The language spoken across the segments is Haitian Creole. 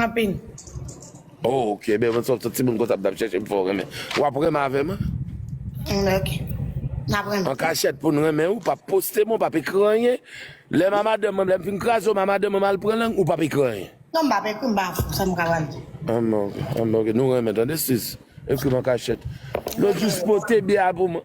Anpil. Oh ok ebyen mwen son timoun konsa m tap chèche m fè w renmen wap renmen avè m an ok nap renmen an kachèt poun renmen ou pap poste m ou pap ekri anyen lèm a madanm mwen lèm fin kraze w a madanm mwen mal pran lang ou pap ekri anyen non m pap ekri m pa fou sam ka pral di anben ok nou renmen tande sis ekri m an kachèt lòt jou poste bya pou mwen.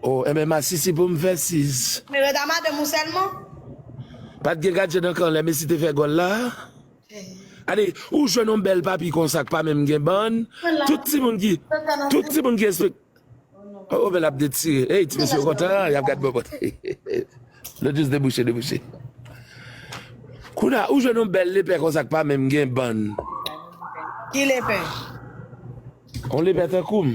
Oh enben masisi pou m fè sis. Mwen ret a madanm ou sèlman. Pat gen gadje nan kan lè Messi te fè gòl la. Gade ou jwenn yon bèl papi konsa k pa menm gen bann, tout timoun ki tout timoun ki espekte Oh men lap detire hey ti mesye yo kontan yap gad bòbòt Lòt jis debouche debouche Kounye ou jwenn yon bèl lepè konsa k pa menm gen bann. Ki lepè? Yon lepè tankou m.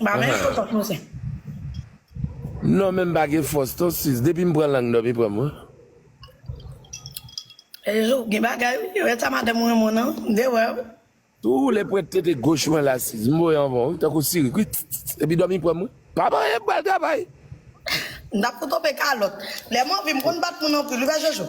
Ba men fo tòt nou se. Non men m pa gen fòs ton sis depi m pran lang dòmi pranm wi. Ejo ou gen bagay wi ou eta madanm ou renmen w nan m te wè w. Tou woule pwent tete goch mwen la sis m voye anvan w wi tankou sirik wi tss epi dòmi pranm wi. Pa manyen m pral travay. M tap kou tonbe kalòt. Lè m anvi m konn bat moun anpil wi pa jojo.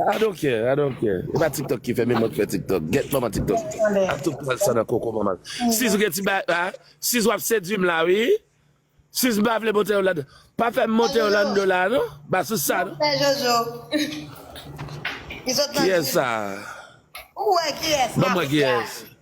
I don't care, I don't care. E pa tiktok ki fè men mwen k fè tiktok. Gèt manman tiktok. Ap tou pran sa nan koko manman l. Sis gen ti bagay la, sis wap sedwi m la wi. Sis m pa vle monte yo ladan. Pa fè m monte yo lando la non. Ba sis sa non. Kiyès sa? Banm wè kiyès.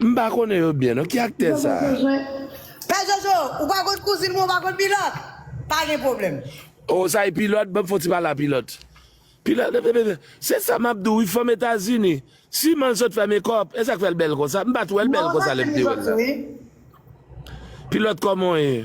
M pa konnen yo byen non ki aktè sa. Pè jojo ou pa konn kouzin mwen ou pa konn pilòt pa gen problème. Oh sa e pilòt banm fon ti pale a pilòt pilòt se sa map di w wi fanm etazini siman l sot fè mekòp e sak fè l bèl konsa m pat wè l bèl konsa lèm te wè l la pilòt kòman w ye.